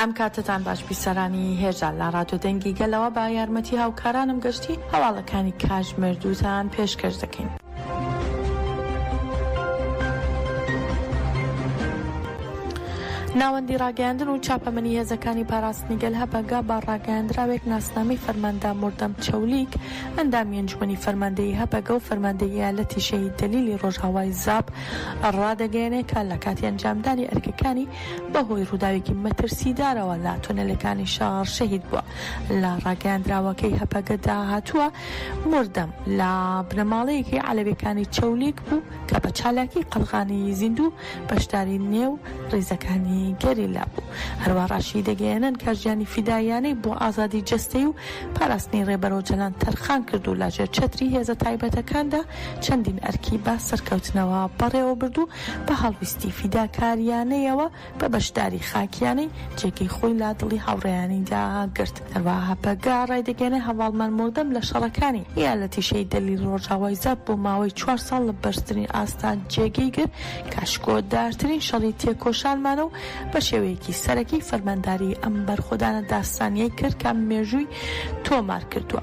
ئەم کاتەتان باش بی سەرانی هێژا لە ڕادیۆ دەنگی گەلەوە بە یارمەتی هاوکارانم گەشتی هەواڵەکانی کاتژمێر دووتان پێشکەش دەکەین. ناوەندی ڕاگەیاندن و چاپەمەنی هێزەکانی پاراستنی گەل هەپەگە بە ڕاگەیاندراوێک ناسنامەی فەرماندە مردەم چەولیک ئەندامی ئەنجومەنی فەرماندەیی هەپەگە و فەرماندەی ئیالەتی شەهید دەلیلی ڕۆژئاوای زاپ ڕادەگەیەنێ کە لە کاتی ئەنجامدانی ئەرکەکانی بەهۆی ڕووداوێکی مەترسیدارەوە لە تونێلەکانی شار شەهید بووە. لە ڕاگەیاندراوەکەی هەپەگەدا هاتووە، مردم لە بنەماڵەیەکی عەلەویەکانی چەولیگ بوو کە بە چالاکی قەڵغانی زیندوو بەشداری نێو ڕیزەکانی گەریلا بوو. هەروا ڕاشیدەگەیەنن کە ژیانی فیداییانەی بۆ ئازادی جەستەی و پاراستنی ڕێبەر ئۆجەلان تەرخان کرد و لە ژێر چەتری هێزە تایبەتەکاندا چەندین ئەرکی بە سەرکەوتنەوە بەڕێوەبرد و بە هەڵویستی فیداکارییانەیەوە بە بەشداری خاکییانەی جێگەی خۆی لا دڵی هاوڕێیانیدا گرت. هەروەها هەپەگە ڕایدەگەیەنێت هەڤاڵ مەرموردەم لە شەڕەکانی ئیالەتی شەهیدەلی لە ڕۆژاوای زاپ بۆ ماوەی چوار ساڵ لە بەرزترین ئاستا جێگەی گرت کە ئاشکۆدارترین شەڕی تێکۆشانمانە و بە شێوەیەکی سەرەکی فەرمانداریی ئەم بەرخۆدانە داستانییەی کرد کە مێژووی تۆمار کردووە.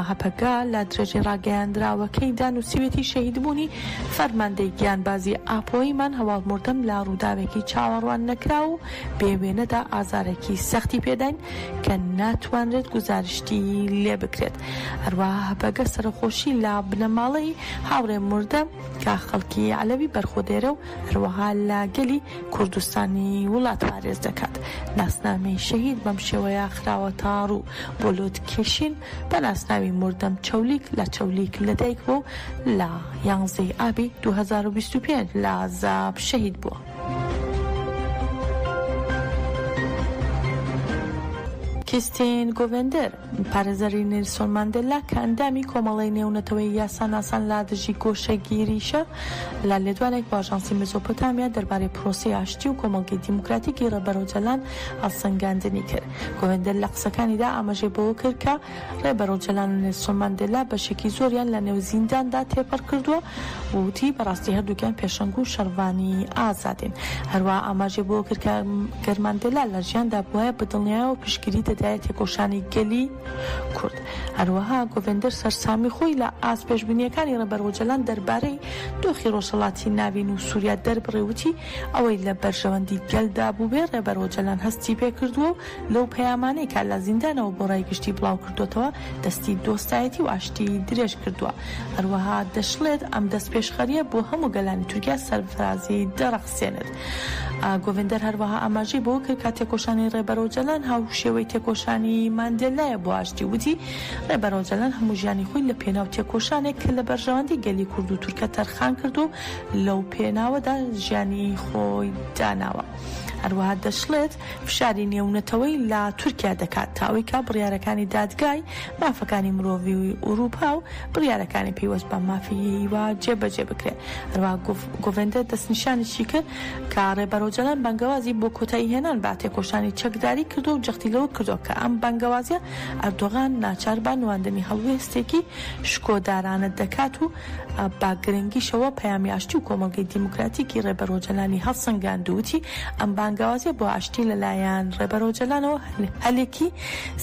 هەپەگە لە درێژەی ڕاگەیاندراوەکەیدا نووسیوێتی شەهیدبوونی فەرماندەی گیانبازی ئاپۆییمان هەواڵمردم لە ڕووداوێکی چاوەڕواننەکراو و بێ وێنەدا ئازارێکی سەختی پێداین کە ناتوانرێت گوزارشتی لێ بکرێت هەروەها هەپەگە سەرەخۆشی لە بنەماڵەی هاوڕێ مردە کە خەڵکی عەلەوی بەرخۆدێرە و هەروەها لە گەلی کوردستانی وڵات پارێز دەکات. ناسنامەی شەهید بەم شێوەیە خراوەتە ڕوو، بۆ لوتکێشین بە ناسناوی مردم چەولیک لە چەولیک لەدایک بووە و لە یانزەی ئابی دوو هەزار و بیست و پێنج لە زاپ شەهید بووە. کیستین گۆڤێندەر، پارێزەری نێلسۆن ماندێلا کە ئەندامی کۆمەڵەی نێونەتەوەیی یاساناسان لا دژی گۆشەگیریشە، لە لێدوانێک بۆ ئاژانسی مێزۆپۆتامیا دەربارەی پرۆسەی ئاشتی و کۆمەڵگەی دیموکراتیکی ڕێبەر ئۆجەلان هەڵسەنگاندنی کرد. گۆهێندەر لە قسەکانیدا ئاماژەی بەوە کرد کە ڕێبەر ئۆجەلان و نێلسۆن ماندێلا بەشێکی زۆریان لە نێو زینداندا تێپەڕ کردووە و وتی بەڕاستی هەردووکیان پێشەنگ و شەڕڤانی ئازادین. هەروەها ئاماژەی بەوە کرد کە گەر ماندێلا لە ژیاندا بوایە بە دڵنیایەوە پشتگیری دەدایە تێکۆشانی گەلی کورد. هەروەها گۆڤێندەر سەرسامی خۆی لە ئاست پێشبینییەکانی ڕێبەر ئۆجەلان دەربارەی دۆخی ڕۆژهەڵاتی ناڤین و سووریا دەربڕی و وتی، ئەوەی لە بەرژەوەندی گەلدا بووبێ ڕێبەر ئۆجەلان هەستی پێ کردووە و لەو پەیامانەی کە لە زیندانەوە بۆ ڕای گشتی بڵاو کردۆتەوە دەستی دۆستایەتی و ئاشتی درێژ کردووە. هەروەها دەشڵێت، ئەم دەستپێشخەرییە بۆ هەموو گەلانی تورکیا سەرفرازی دەڕەخسێنێت. گۆڤێندەر هەروەها ئاماژەی بەوە کرد کە تێکۆشانی ڕێبەر ئۆجەلان هاوشێوەی تێکۆشانی ماندێلایە بۆ ئاشتی وتی ڕێبەر ئۆجەلان هەموو ژیانی خۆی لە پێناو تێکۆشانێک کە لە بەرژەوەندی گەلی کورد و تورکە تەرخان کرد و لەو پێناوەدا ژیانی خۆی داناوە هەروەها دەشڵێت فشاری نێونەتەوەی لە تورکیا دەکات تا ئەوەی کە بڕیارەکانی دادگای مافەکانی مرۆڤی و ئورووپا و بڕیارەکانی پەیوەست بە مافی هیوا جێبەجێ بکرێت هەروە گۆڤندە دەستنیشانیشی کرد کە ڕێبەرۆجەلان بەنگەوازی بۆ کۆتایی هێنان بە تێکۆشانی چەکداری کردو و جەختی لەوە کردو کە ئەم بەنگەوازیە ئەردۆغان ناچار بە نواندنی هەڵوێستێکی شکۆدارانە دەکات و بە گرنگیشەوە پەیامی ئاشتی و کۆمەڵگەی دیموکراتیکی ڕێبەر ئۆجەلانی هەڵسەنگاند و وتی، ئەم بانگەوازیە بۆ ئاشتی لەلایەن ڕێبەر ئۆجەلانەوە هەلێکی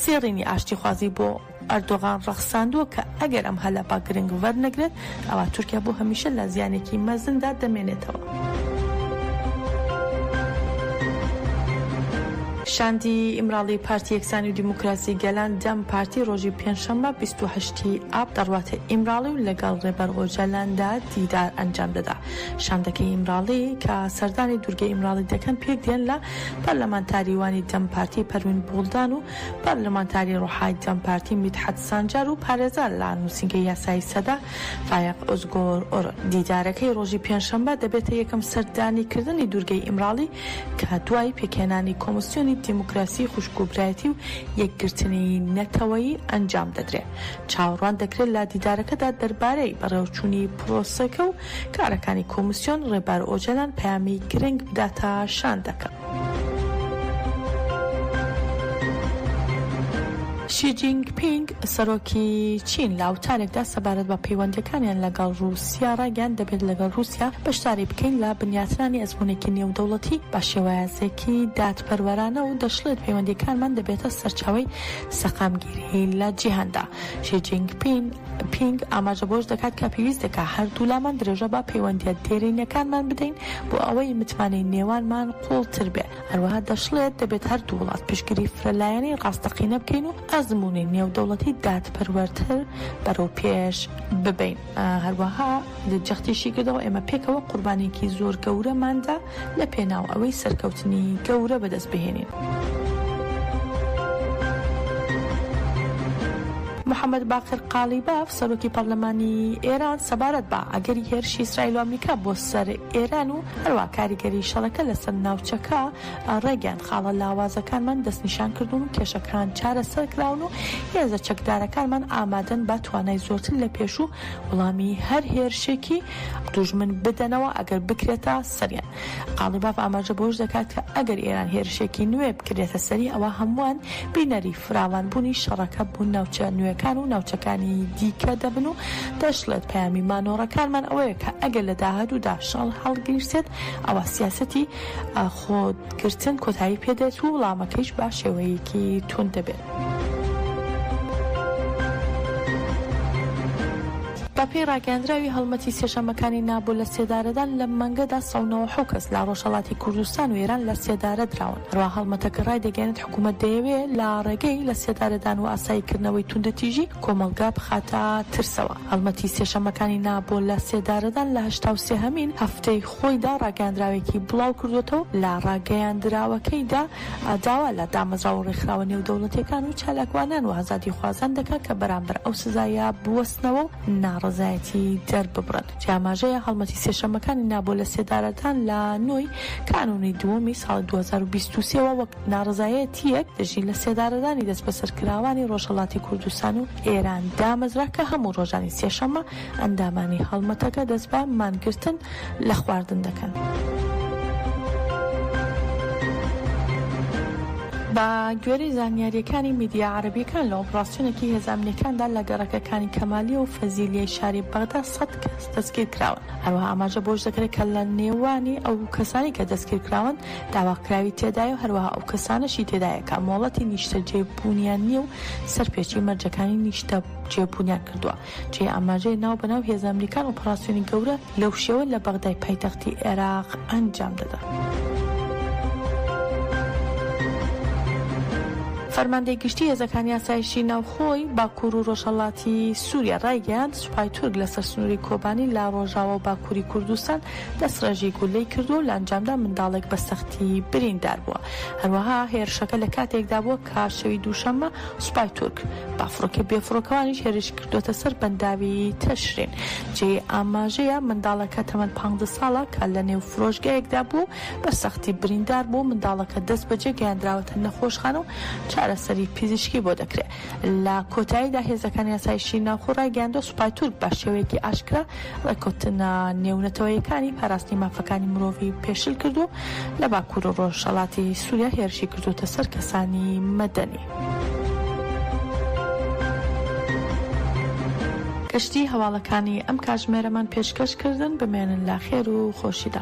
زێڕینی ئاشتیخوازی بۆ ئەردۆغان ڕەخساندووە کە ئەگەر ئەم هەلە بە گرنگ وەرنەگرێت ئەوا تورکیا بۆ هەمیشە لە زیانێکی مەزندا دەمێنێتەوە. شاندی ئیمراڵی پارتی یەکسانی و دیموکراسی گەلان، دەم پارتی، ڕۆژی پێنجشەممە بیست و هەشت. تی ئاب دەڕواتە ئیمراڵی و لەگەڵ ڕێبەر ئۆجالاندا دیدار ئەنجام دەدا. شاندەکەی ئیمراڵی کە سەردانی دوورگەی ئیمراڵی دەکەن پێکدێن لە پەرلەمانتاریوانی دەم پارتی پەروین بوڵدان و پەرلەمانتاری ڕۆحای دەم پارتی میدحەت سانجار و پارێزەر لە نووسینگەی یاسایی سەدە فایەق ئۆزگۆر ئۆرن. دیدارەکەی ڕۆژی پێنجشەممە دەبێتە یەکەم سەردانیکردنی دوورگەی ئیمراڵی کە دوای پێکهێنانی کۆمسیۆنی دیموکراسیی خوشکوبرایەتی و یەکگرتنیی نەتەوەیی ئەنجام دەدرێ. چاوەڕوان دەکرێ لە دیدارەکەدا دەربارەی بەڕێوەچوونی پرۆسەکە و کارەکانی کۆمسیۆن، ڕێبەر ئۆجەلان پەیامی گرنگ بداتە شاندەکە. شی جینگ پینگ سەرۆکی چین لە وتارێکدا سەبارەت بە پەیوەندییەکانیان لەگەڵ ڕووسیا ڕایگەیاند، دەبێت لەگەڵ ڕووسیا بەشداری بکەین لە بنیاتنانی ئەزموونێکی نێودەوڵەتی بە شێوازێکی دادپەروەرانە و دەشڵێت پەیوەندییەکانمان دەبێتە سەرچاوەی سەقامگیری لە جیهاندا. شی جینگ پینگ ئاماژە بەوەش دەکات کە پێویستێکە هەردوولامان درێژە بە پەیوەندییە دێرینەکانمان بدەین بۆ ئەوەی متمانەی نێوانمان قووڵتر بێت. هەروەها دەشڵێت، دەبێت هەردوو وڵات پشتگیری فرەلایەنەی ڕاستەقینە بکەین و ئەزموونی نێودەوڵەتی دادپەروەرتر بەرەو پێش ببەین. هەروەها جەختیشی کردەوە، ئێمە پێکەوە قوربانییەکی زۆر گەورەمان دا لە پێناو ئەوەی سەرکەوتنی گەورە بەدەست بهێنین. محەمەد باقر قاڵیباف، سەرۆکی پەرلەمانی ئێران سەبارەت بە ئەگەری هێرشی ئیسرائیل و ئەمریکا بۆ سەر ئێران و هەروا کاریگەری شەڕەکە لەسەر ناوچەکە ڕێگەیاند، خاڵە لاوازەکانمان دەستنیشان کردوون و کێشەکان چارەسەرکراون و هێزە چەکدارەکانمان ئامادەن بە توانای زۆرتر لە پێشوو وڵامی هەر هێرشێکی دوژمن بدەنەوە ئەگەر بکرێتە سەریان. قاڵیباف ئاماژە بەوەش دەکات کە ئەگەر ئێران هێرشێکی نوێ بکرێتە سەری ئەوا هەمووان بینەری فراوانبوونی شەڕەکە بۆ ناوچە نوێکان و ناوچەکانی دیکە دەبن و دەشڵێت، پەیامی مانۆڕەکانمان ئەوەیە کە ئەگەر لە داهاتوودا شەڕ هەڵگیرسێت، ئەوا سیاسەتی خۆگرتن کۆتایی پێدێت و وڵامەکەیش بە شێوەیەکی توند دەبێت. بەپێی ڕاگەیاندراوی هەڵمەتی سێشەممەکانی نابۆ لە سێدارەدان لەم مانگەدا سەد و نەوەد و حەوت کەس لە ڕۆژهەڵاتی کوردستان و ئێران لە سێدارە دراون هەروەها هەڵمەتەکە ڕایدەگەیەنێت حکومەت دەیەوێ لە ڕێگەی لە سێدارەدان و ئاسایی کردنەوەی توندەتیژی، کۆمەڵگا بخاتە ترسەوە. هەڵمەتی سێشەممەکانی نا بۆ لە سێدارەدان لە هەشتا و سێهەمین هەفتەی خۆیدا ڕاگەیاندراوێکی بڵاو کردووەتەوە و لە ڕاگەیاندراوەکەیدا داوا لە دامەزراوە و ڕێکخراوە نێودەوڵەتییەکان و چالاکوانان و ئازادیخوازان دەکا کە بەرامبەر ئەو سزایە بوەستنەوە و ناڕەزایەتی دەرببڕن. کە ئاماژەیە هەڵمەتی سێشەممەکانی نا بۆ لەسێدارەدان لە نۆی کانوونی دووەمی ساڵی دوو هەزار و بیست و سێ وە وەک ناڕەزایەتییەک دژی لەسێدارەدانی دەسبەسەرکراوانی ڕۆژهەڵاتی کوردستان و ئێران دامەزرا کە هەموو ڕۆژانی سێشەممە ئەندامانی هەڵمەتەکە دەست بە مانگرتن لە خواردن دەکەن. بە گوێرەی زانیارییەکانی میدیا عەرەبییەکان لە ئۆپڕاسیۆنێکی هێزە ئەمنییەکاندا لە گەڕەکە کانی کەمالیە و فەزیلیەی شاری بەغدا سەد کەس دەستگیر کراون. هەروەها ئاماژە بەوەش دەکرێت کە لە نێوانی ئەو کەسانەی کە دەستگیر کراون داواکراوی تێدایە و هەروەها ئەو کەسانەشی تێدایە کە مۆڵەتی نیشتەجێبوونیان نییە و سەرپێچی مەرجەکانی نیشتەجێبوونیان کردووە. جێی ئاماژەیە ناو بەناو هێزە ئەمریکان ئۆپەراسیۆنی گەورە لەو شێوە لە بەغدای پایتەختی عێراق ئەنجام دەدەن. فەرماندەی گشتی هێزەکانی ئاسایشی ناوخۆی باکوور و ڕۆژهەڵاتی سووریا ڕایگەیاند سوپای تورک لەسەر سنووری کۆبانی لە ڕۆژاوە و باکووری کوردستان دەستڕێژی گولەی کردووە و لە ئەنجامدا منداڵێک بە سەختی بریندار بووە هەروەها هێرشەکە لە کاتێکدا بووە کە شەوی دووشەممە سوپای تورک بە فڕۆکە بێفڕۆکەوانیش هێرشی کردووەتە سەر بەنداوی تەشرین. جێی ئاماژەیە منداڵەکە تەمەن پانزدە ساڵە کە لەنێو فرۆشگایەکدا بووە و بە سەختی بریندار بوو، منداڵەکە دەستبەجێ گەیاندراوەتە نەخۆشخانە و چارەسەری پزیشکی بۆ دەکرێت. لە کۆتاییدا هێزەکانی ئاسایشی ناوخۆ رایگەیاندووە، سوپای تورک بە شێوەیەکی ئاشکرا رێککەوتنە نێونەتەوەیەکانی پاراستنی مافەکانی مرۆڤی پێشل کردووە و لە باکوور و رۆژهەڵاتی سووریا هێرشی کردووەتە سەر کەسانی مەدەنی. کەشتی هەواڵەکانی ئەم کاژمێرەمان پێشکەش کردن بمێنن لە خێر و خۆشیدا.